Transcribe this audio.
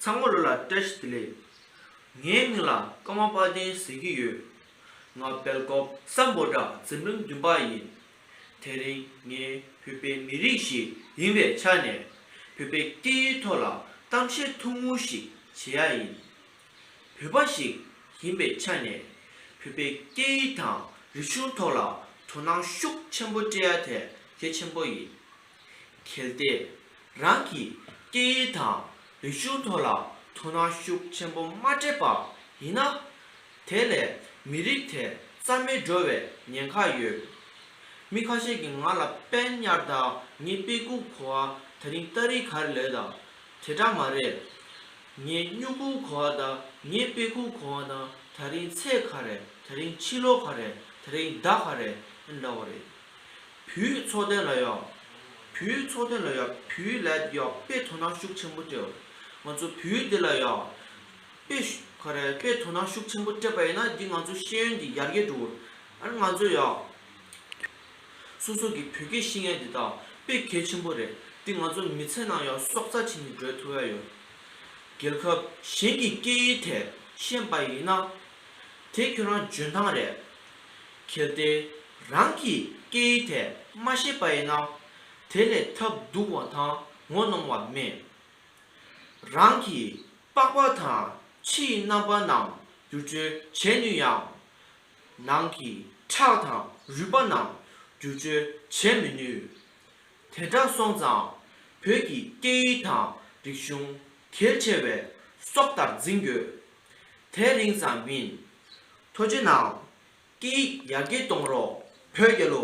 ཚང་མ་བློ་ལ་བཀྲ་ཤིས་བདེ་ལེགས། ངའི་མིང་ལ་ཀརྨ་དཔའ་ལྡན་ཟེར་གྱི་ཡོད། ང་སྦེལ་ཀོབ་ས་འབོ་སྦྲ་འཛིན་རིམ་བདུན་པ་ཡིན། དེ་རིང་ངས་བོད་པའི་མི་རིགས་ཤིག་ཡིན་པའི་ཆ་ནས། བོད་པའི་སྐད་ཡིག་ཐོག་ལ་གཏམ་བཤད་ཐུང་ངུ་ཞིག་བྱེད་ཡ་ཡིན། བོད་པ་ཞིག་ཡིན་པའི་ཆ་ནས་བོད་པའི་སྐད་ཡིག་དང་རིག་གཞུང་ཐོག་ལ་དོ་སྣང་ཤུགས་ཆེན་པོ་སྤྲད་ཡ་དེ་གལ་ཆེན་པོ་ཡིན། གལ་ཏེ་རང་གི་སྐད་ཡིག་དང་རིག་གཞུང་ཐོག་ལ་དོ་སྣང་ཤུགས་ཆེན་པོ་མ་སྤྲད་པ་ཡིན་ན། དེ་ལས་མི་རིགས་དེ་རྩ་མེད་འགྲོ་བའི་ཉེན་ཁ་ཡོད། མི་ཁ་ཤས་ཀྱིས་ང་ལ་དཔལ་དམྱར་ད་ངས་དཔེ་ཁུག་གོ་བ་ད་རིང་ལྟ་རིག་ག་རེ་ལོས་ད་དེ་འདྲ་མ་རེད། ངས་སྨྱུག་ཁུང་གོ་བ་དང་ངས་དཔེ་ཁུང་གོ་བ་དང་ད་རིང་ཚེས་ག་རེད་ད་རིང་ཕྱི་ལོ་ག་རེད་ད་རིང་ཟླ་ག་རེད་འདྲ་བ་རེད། བུའི་ཚོགས་སྟོན་ལ་ཡོག་བུའི་ཚོགས་སྟོན་ལ་ཡོག་བུའི་ལད་ཡོག་དཔེ་དོ་སྣང་ཤུགས་ཆེན་པོ་སྤྲོད། ང་ཚོ་བུའི་འདི་ལ་ཡོག་དཔེ་ག་རེད་དཔེ་དོ་སྣང་ཤུགས་ཆེན་པོ་སྤྲད་པ་ཡིན་ན་འདི་ང་ཚོ་ཤེས་ཡོན་གྱི་ཡར་རྒྱས་འགྲོ། ང་ཚོ་ཡོག། སོ་སོ་གི་བོད་སྐད་ཤེས་མཁན་དེ་དག་དཔེ་གལ་ཆེན་པོ་རེད་དེ་ང་ཚོ་མི་ཚེ་ནང་ཡང་སྲོག་རྩ་བྱིན་གྱིས་སྒྲོལ་ཐུབ་ཡ་ཡོད། རྒྱལ་ཁབ་གཞན་གྱི་སྐད་ཡིག་ཐད་ཤེས་པ་ཡིན་ན། དེ་ཁྱོད་རང་འཇོན་ཐང་རེད། གལ་ཏེ་རང་གི་སྐད་ཡིག་ཐད་མ་ཤེས་པ་ཡིན་ན། དེ་ལས་ཐབས་སྡུག་བ་དང་ངོ་གནོང་བ་མེད། རང་གི་པགས་པ་དང་ཕྱི་ཡི་རྣམ་པ་རྣམས་བསྒྱུར་བཅོས་བྱེད་ནུས་ཡང། ནང་གི་ཁྲག་དང་རུས་པ་རྣམས་བསྒྱུར་བཅོས་བྱེད་མི་ནུས། དེ་འདྲ་སོང་ཙང་བོད་ཀྱི་སྐད་ཡིག་དང་རིག་གཞུང་གལ་ཆེ་བས་སྲོག་ལྟར་འཛིན་དགོས། དེ་རིང་ཙམ་མིན། ཐོ་ཇེ་ནང་སྐད་ཡིག་ཡར་རྒྱས་གཏོང་རོགས་བོད་རྒྱལོ།